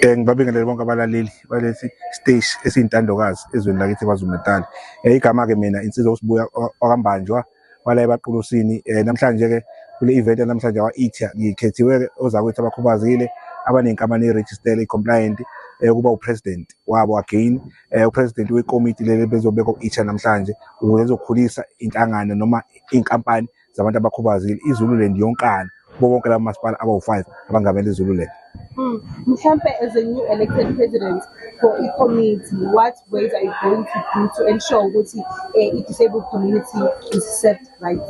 Eh ngibabingelele bonke abalaleli balesi stage esiyintandokazi ezweni lakithi KwaZulu Natal. Eh igama ke mina insizwa usibuya okambanjwa wala ebaqulusini. Eh namhlanje ke kule event namhlanje wa Ithia ngikhethiwe ke ozakwethu abakhubazile abanenkampani eregister ecompliant eh kuba upresident wabo again eh upresident wekomiti leli bezobeka uItha namhlanje ukuze ezokhulisa inhlangano noma inkampani zabantu abakhubazekile izululand yonkana kubo bonke laba masipala abawu-five abangamele izululand hmm. mhlampe as a new elected president for i-community what ways are you going to do to ensure ukuthi eh, i-disabled community is set right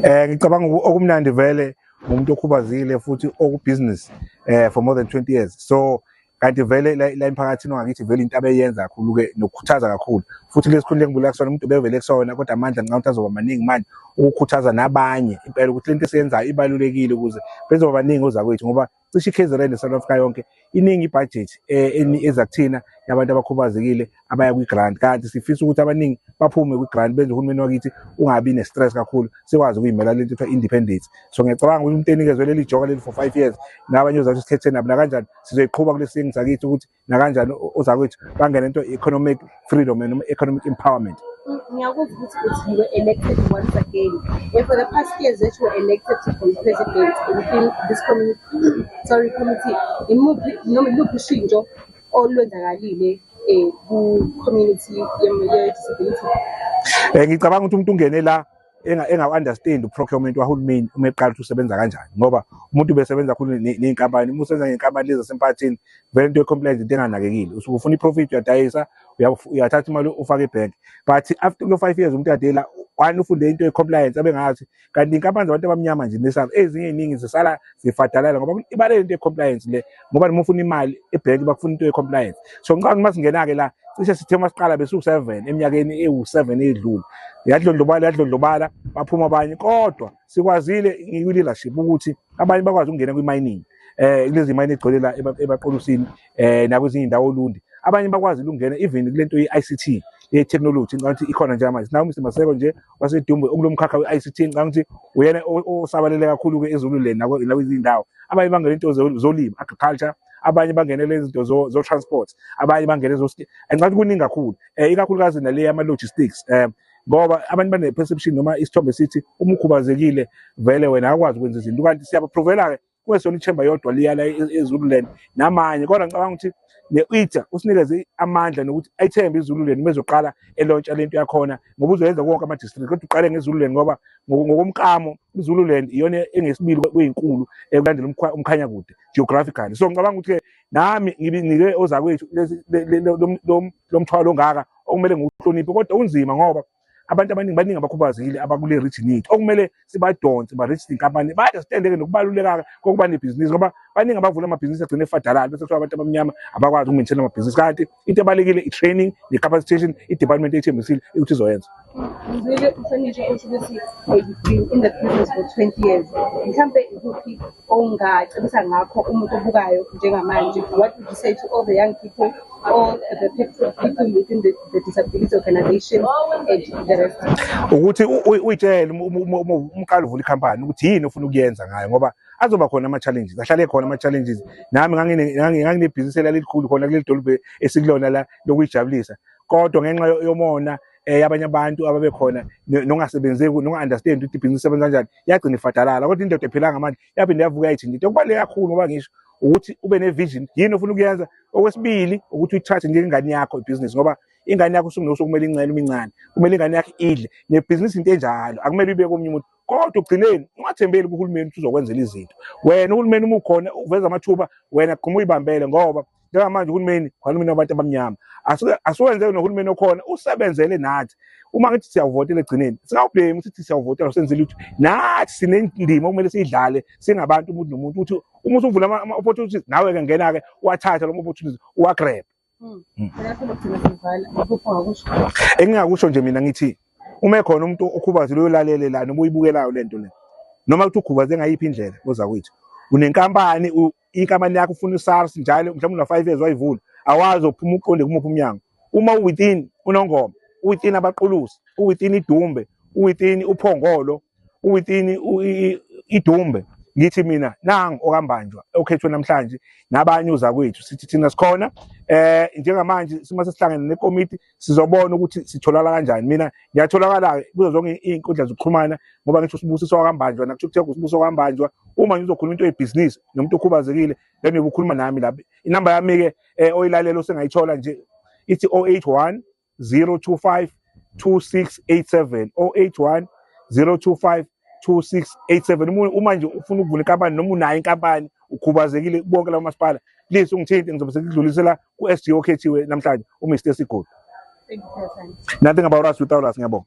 um ngicabanga okumnandi vele ngumuntu okhubazile futhi okubhizinisi um eh, for more than 20 years so kanti vele la emphakathini wangakithi vele into abeyenza kakhulu-ke nokukhuthaza kakhulu futhi kulesi khundla engibuleka kusona umuntu ubevele kusona kodwa amandla ngicabanga ukuthi azoba maningi manje ukukhuthaza nabanye impela ukuthi lento esiyenzayo ibalulekile ukuze bezoba baningi ozakwethu ngoba cishe i-kzn ne-south africa yonke iningi ibhajethi eh, eza kuthina yabantu abakhubazekile abaya kwi-grant kanti sifisa ukuthi abaningi baphume kwi-grant benze uhulumeni wakithi ungabi ne-stress kakhulu sikwazi ukuyimela lento kuthiwa independence so ngiyacabanga ukuthi umuntu enikezwe leli joka leli for five years nabanye ozathi sithethe nabo nakanjani sizoyiqhuba kule singi sakithi ukuthi nakanjani ozakwethu bangene into economic freedom noma economic empowerment ngiyakuzwa ukuthi uthi you were elected once again and for the past years that you were elected to be president within this community sorry committee imuphi noma iluphi ushintsho olwenzakalile eh, ku-community ye-disability um ngicabanga ukuthi umuntu ungene la engawu-understand uprocurement wahulumeni uma eqala ukuthi usebenza kanjani ngoba umuntu ubesebenza khulu ney'nkampani uma usebenza ngey'nkampani lezi zasemphakathini vele into ye-compliance into enganakekile usuke ufuna i-profit uyadayisa uyathatha imali ufake ebhenki but after kulo five years umuntu adela wani ufunde into ye-compliance abengazi kanti inkampani zabantu abamnyama nje nesam ezinye iningi zisala zifadalala ngoba ibalele into ye-compliance le ngoba noma ufuna imali ebhenki bakufuna into ye-compliance so ngicabanga uma singena-ke la cishe sithe uma siqala besiwu-seven eminyakeni ewu-seven edlule yadlondlobala yadlondlobala baphuma abanye kodwa sikwazile ngikwi-leadership ukuthi abanye bakwazi ukungena kwi-mining um eh, kulezi mayini egcwele la ebaqolusini um nakwezinye indawo olundi abanye bakwazi ukungena even kule nto ye-i c t ye-technology ngicabanga ukuthi ikhona njengamanje nawo mr maseko nje wasedumbe okulomkhakha we-ict ngicanga ukuthi uyena osabalele kakhulu-ke ezululeni nakwezindawo abanye bangene into zolima agriculture abanye bangenele izinto zo-transport abanye bangene ngicanga ukuthi kuningi kakhulu um ikakhulukazi nale yama-logistics um ngoba abantu bane-perception noma isithombe sithi uma ukhubazekile vele wena akwazi ukwenza izinto kanti siyabaprovela-ke kwesona ichemba yodwa liyala ezululand namanye kodwa ngicabanga ukuthi ne-ita usinikeze amandla nokuthi ayithembe izululand uma ezoqala elontsha le nto yakhona ngoba uzoyenza konke ama-district kodwa uqale ngezululand ngoba ngokomkamo izululand iyona engesibili kweyinkulu ekulandela umkhanya kude geographically so ngicabanga ukuthi-ke nami ngibinike ozakwethu lo mthwalo ongaka okumele ngiwuhloniphe kodwa unzima ngoba abantu abaningi baningi abakhubazekile abakule region yethu okumele sibadonse ba-register inkampani bayazitendeke nokubaluleka kokuba nebhizinisi ngoba baningi abavula amabhizinisi agcine efadalala bese kuthiwa abantu abamnyama abakwazi ukumentshela amabhizinisi kanti into ebalulekile i-training ne-capacitation i-department ethembisile ukuthi izoyenza mzile uhlonishwa usho ukuthi in the business for 20 years mhlampe ikuphi ongacebisa ngakho umuntu obukayo njengamanje what would you say to all the young people all the people within the, the disability organization and the rest ukuthi uyitshele umqala uvula ikhampani ukuthi yini ofuna ukuyenza ngayo ngoba azoba khona ama-challenges ahlale khona ama-challenges nami nganginebhizinisi elalikhulu khona kuleli dolobhe esikulona la lokuyijabulisa kodwa ngenxa yomona um eh, abanye abantu ababekhona nongasebenzeki nonga-understand ukuthi ibhizinisi sebenza kanjani yagcina ifadalala kodwa indoda ephilanga manje yaphinde yavuka yayithinta into okubaluleke kakhulu ngoba ngisho ukuthi ube ne-vision yini ofuna ukuyenza okwesibili ukuthi uyithathe njengengane yakho ibhizinisi ngoba ingane yakho usungunokuthi kumele incele uma incane kumele ingane yakho idle nebhizinisi into enjalo akumele ibeke omunye umuntu kodwa ugcineni ungathembeli kuhulumeni ukuthi uzokwenzela izinto wena uhulumeni uma ukhona uveza amathuba wena gquma uyibambele ngoba njengamanje uhulumeni uhulumeni wabantu abamnyama asiwenze nohulumeni okhona usebenzele nathi uma ngithi siyawuvotela egcineni singawubhemi sithi siyawuvotela senze lutho nathi sinendima okumele siyidlale singabantu umuntu nomuntu ukuthi uma usuvula ama-opportunities nawe-ke ngena-ke wathatha loma opportunities uwagrebe hmm. hmm. engingakusho nje mina ngithi uma ekhona umuntu okhubazile uyolalele la noma uyibukelayo le nto le noma kuthi ukhubazile ngayiphi indlela oza kwethu unenkampani inkampani yakho ufuna usars njalo mhlawumbe una-five years wayivula awazi ophuma uqonde kumuphi umnyango uma uwithin unongoma uwithin abaqulusi uwithin idumbe uwithin uphongolo uwithin idumbe ngithi mina nangu okambanjwa okhethwe namhlanje nabanye uzakwethu sithi thina sikhona eh njengamanje sima sesihlangene nekomiti sizobona ukuthi sitholakala kanjani mina ngiyatholakala kuzo zonke iy'nkundla zokuxhumana ngoba ngisho usibusiso wakambanjwa nakuthukuthenga usibusiso wakambanjwa uma ngizokhuluma into yebhizinisi nomuntu okhubazekile then uyobe ukhuluma nami la inamba yami-ke um eh, oyilalela osengayithola nje ithi 081 025 2687 081 025 2687 uma uma nje ufuna ukuvula inkampani noma unayo inkampani ukhubazekile bonke lawo masipala please ungithinte ngizobe sekudlulisela ku-SG okhethiwe namhlanje uMr Sigodi nothing about us without us ngiyabonga